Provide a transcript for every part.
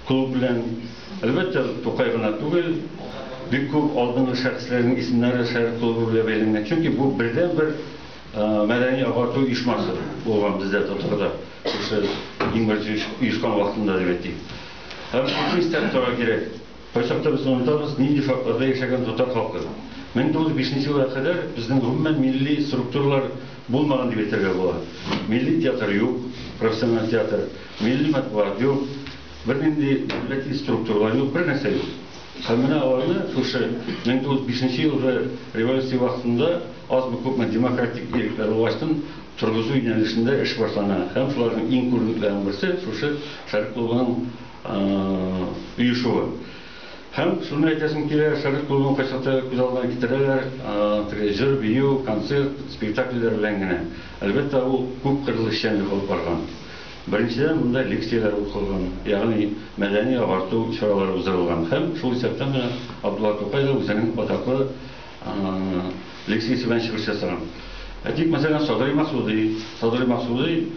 клуб белән, әлбәттә, Тукай гына түгел, бик күп алдынгы шәхесләрнең исемнәре шәһәр клубы белән бәйләнгән. Чөнки бу бердән бер мәдәни агарту оешмасы булган бездә татарда. Шушы иң беренче оешкан вакытында дип әйтик. Һәм шушы истәлек тора кирәк. Кайчакта без онытабыз, нинди шартларда яшәгән татар халкы. 1905 нче елга кадәр безнең гомумән милли структуралар булмаган дип әйтергә була. Милли театр юк, профессиональ театр, милли матбугат юк, бернинди дәүләти структуралар юк, бернәрсә юк. Һәм менә аларны шушы 1905 нче елгы революция вакытында азмы-күпме демократик ирекләр булгачтын торгызу юнәлешендә эш башлана һәм шуларның иң күренекләренең берсе шушы Шәрык клубының оешуы. Һәм шуны әйтәсем килә, Совет клубын кайчакта күз алдына китерәләр, теге җыр, бию, концерт, спектакльләр белән генә. Әлбәттә, ул күп кырлы эшчәнлек алып барган. Беренчедән, монда лекцияләр укылган, ягъни мәдәни-агарту чаралары уздырылган. Һәм шул исәптән менә Абдулла Тукай да үзенең атаклы лекциясе белән чыгыш ясаган. Әйтик, мәсәлән, Садри Максуди. Садри Максуди.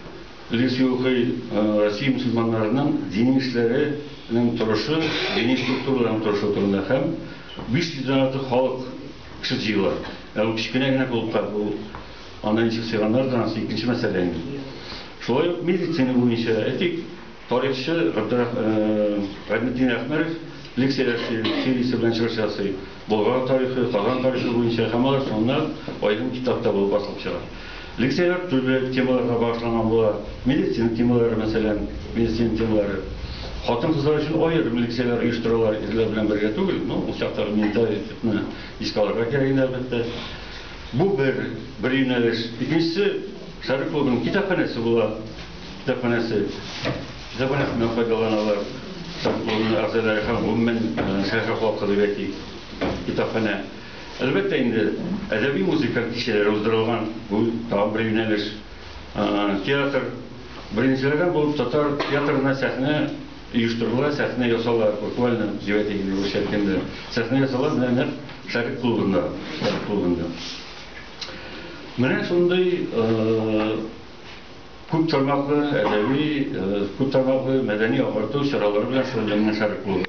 Лиси укый, Россия мөселманнарының дини эшләре нең торышы, дини структураларның торышы турында һәм 500 дән артык халык кеше җыела. Ә ул кечкенә генә клубка, ул анда ничек сыйганнардыр, анысы икенче мәсьәлә инде. Шулай ук медицина буенча, әйтик, тарихчы Габдрах, Гайнетдин Әхмәрев лекция ясый, сериясе белән чыгыш ясый, Болгар тарихы, Казан тарихы буенча һәм алар санлап аерым китап та булып басылып чыга. Лекцияләр төрле темаларга багышланган була. Медицина темалары, мәсәлән, медицина темалары. Хатын-кызлар өчен аерым лекцияләр оештыралар, ирләр белән бергә түгел. Ну, ул чактагы менталитетны искә алырга кирәк иде, әлбәттә. Бу бер, бер юнәлеш. Икенчесе, Шәһәр клубының китапханәсе була. Китапханәсе. Китапханәсеннән файдаланалар Шәһәр клубының әгъзалары һәм, гомумән, шәһәр халкы дип әйтик, китапханә. Әлбәттә инде, әдәби-музыка кичәләре уздырылган, бу тагын бер юнәлеш. Театр. Беренчеләрдән булып татар театрына сәхнә оештырыла, сәхнә ясала, буквально җебә дигәндәй, урысча әйткәндә. Сәхнә ясала менә нәкъ Шәрык клубында. Шәрык клубында. Менә шундый күп тармаклы әдәби, күп тармаклы мәдәни-агарту чаралары белән шөгыльләнгән Шәрык клубы.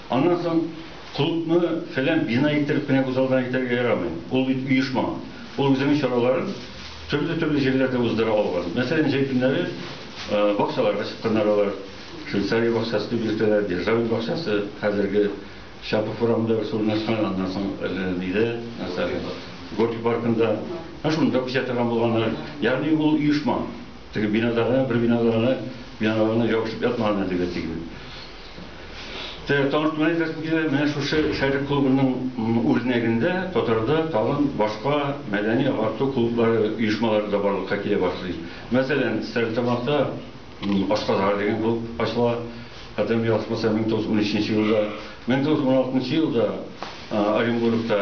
Аннан соң клубны фәлән бина иттереп кенә үзалдына әйтергә ярамый. Ул бит оешма. Ул үзенең чараларын төрле-төрле җирләрдә уздыра алган. Мәсәлән, җәй көннәре бакчаларга чыкканнар алар. Швейцария бакчасы дип йөртәләр, Державин бакчасы, хәзерге Чапов урамында берсе урнашкан, аннан соң әле нидә, Горький паркында. Менә шунда күчә торган булганнар. Ягъни ул оешма. Теге бинада гына, бер бинада гына, биналар гына ябышып ятмаган әлеге тиген. Таныш туган әйтәсем килә, менә шушы Шәрык клубының үрнәгендә татарда тагын башка мәдәни-агарту клублары, оешмалары да барлыкка килә башлый. Мәсәлән, Стәрлетамакта Ашказгар дигән клуб ачыла, хәтерем ялгышмаса, 1913 нче елда. 1916 нчы елда Оренбургта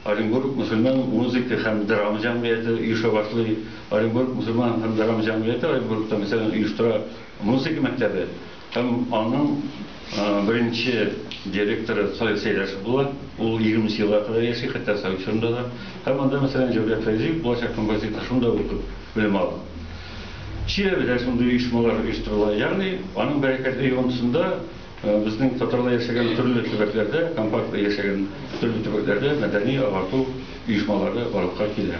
Оренбург мөселман музыка һәм драма җәмгыяте оеша башлый. Оренбург мөселман һәм драма җәмгыяте Оренбургта, мәсәлән, оештыра музыка мәктәбе. Һәм аның беренче директоры Салих Сәйдәшев була. Ул егерме нче елга кадәр яши, хәтта совет чорында да. Һәм анда, мәсәлән, Җәүдәт Фәйзиев, булачак композитор, шунда укып белем алган. Чиләбедә шундый оешмалар оештырыла. Ягъни, аның бәрәкәтле йогынтысында безнең татарлар яшәгән төрле төбәкләрдә, компакт яшәгән төрле төбәкләрдә мәдәни-агарту оешмалары барлыкка килә.